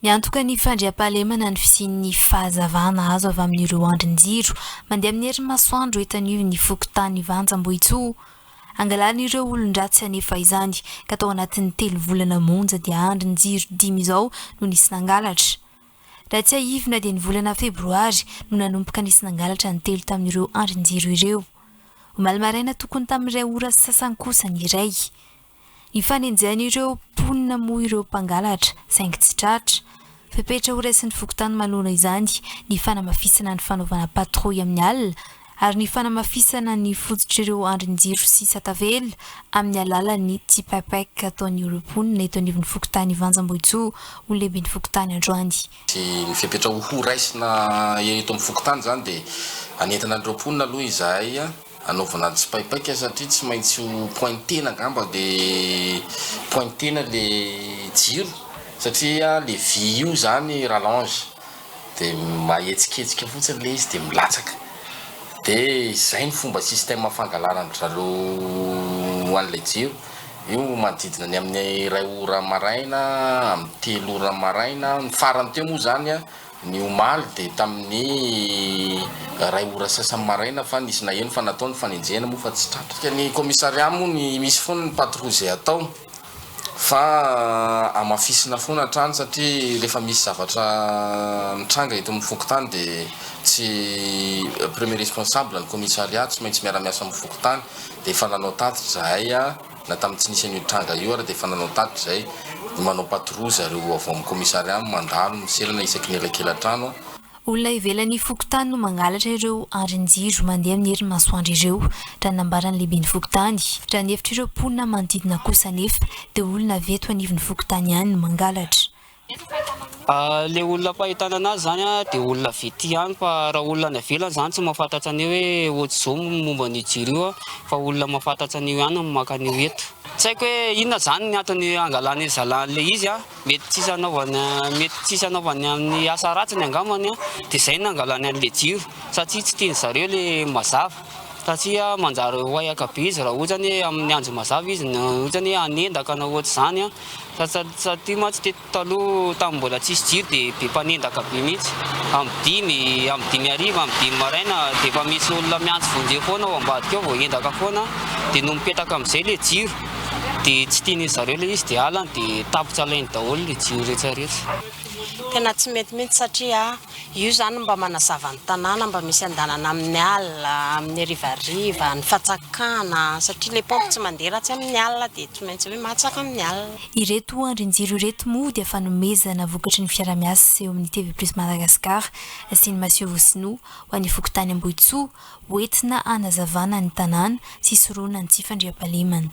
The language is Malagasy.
Miantoka ny fandriampahalemana ny fisian'ny fahazavana azo avy amin'ireo andrin-jiro mandeha amin'ny herin'ny masoandro eto anivon'ny fokontany Vanjambohitsoa. Angalarin'ireo olon-dratsy anefa izany ka tao anatin'ny telo volana monja dia andrin-jiro dimy izao no nisy nangalatra. Raha tsiahivina dia ny volana febroary no nanomboka nisy nangalatra ny telo tamin'ireo andrin-jiro ireo. Omaly maraina tokony tamin'ny iray ora sy sasany kosa ny iray. Ifanenjehan'ireo mponina moa ireo mpangalatra, saingy tsy tratra. Fepetra horaisin'ny fokontany manoro izany ny fanamafisana ny fanaovana patrouille amin'ny alina ary ny fanamafisana ny fototr'ireo andrin-jiro sy satavela amin'ny alalan'ny tsipaipaika ataon'ireo mponina eto anivon'ny fokontany Vanjambohijoa ho lehiben'ny fokontany androany. Ny fepetra horaisina eto amin'ny fokontany izany dia hanentana an'ireo mponina aloha izahay Anaovana tsipaipaika satria tsy maintsy ho pointena angamba le pointena le jiro satria le vy io zany rallonge de mahetsiketsika fotsiny le izy de milatsaka de zay ny fomba système fangalarana dralo an'ilay jiro io manodidina ny amin'ny iray ora maraina amin'ny telo ora maraina ny farany teo moa zany a ny omaly dia tamin'ny iray ora sasany maraina fa nisy naheno fa natao ny fanenjehana moa fa tsy tratrika ny commissariat moa ny misy foana ny patrouille izay atao fa hamafisina foana hatrany satria rehefa misy zavatra mitranga eto amin'ny fokontany dia tsy premier responsable ny commissariat tsy maintsy miara-miasa amin'ny fokontany dia efa nanao tatitra izahay Na tamin'ny tsy nisy an'io tranga io ary dia efa nanao tatitra izay ny manao patrouille zareo avy ao amin'ny commissariat mandalo ny selana isaky ny elakelan-trano. Olona ivelan'ny fokontany no mangalatra ireo andrin-jiro mandeha amin'ny herin'ny masoandro ireo, raha nambaran'ny lehiben'ny fokontany. Raha ny hevitr'ireo mponina manodidina kosa anefa dia olona avy eto anivon'ny fokontany ihany no mangalatra. Ilay olona am-pahitana anazy izany dia olona avy ety ihany fa raha olona any ivelany izany tsy mahafantatra an'io hoe haute zo momba an'io jiro io fa olona mahafantatra an'io ihany no maka an'io eto. Tsy haiko hoe inona izany ny antony hangalany an'i zalahy an'ilay izy, mety tsy hisy hanaovany mety tsy hisy hanaovany amin'ny asa ratsiny angambany dia izay no nangalany an'ilay jiro satria tsy tian'ny zareo ilay mazava satria manjary wayaka be izy raha ohatra hoe amin'ny andro mazava izy na ohatra hoe hanendaka na ohatr'izany. Taty mantsy teto taloha tamin'ny mbola tsisy jiro dia be mpanendaka be mihitsy. Amin'ny dimy, amin'ny dimy hariva, amin'ny dimy maraina dia efa misy olona miantso vonjeo foana ao ambadika ao vao hendaka foana. Dia nony mipetaka amin'izay ilay jiro dia tsy tian'izy zareo ilay izy dia alany dia tapitra alainy daholo ilay jiro rehetra rehetra. Tena tsy mety mihitsy satria. Io zany mba manazava ny tanàna mba misy andanana amin'ny alina, amin'ny harivariva, ny fatsakana, satria le pompe tsy mandeha raha tsy amin'ny alina dia tsy maintsy hoe matsaka amin'ny alina. Ireto andrin-jiro ireto moa dia fanomezana vokatry ny fiarahamiasa eo amin'ny TV Plus Madagascar sy ny Maseovo Sinoa ho an'ny fokontany Ambohitsoa ho entina hanazavana ny tanàna sy hisoroana ny tsy fandriampahalemana.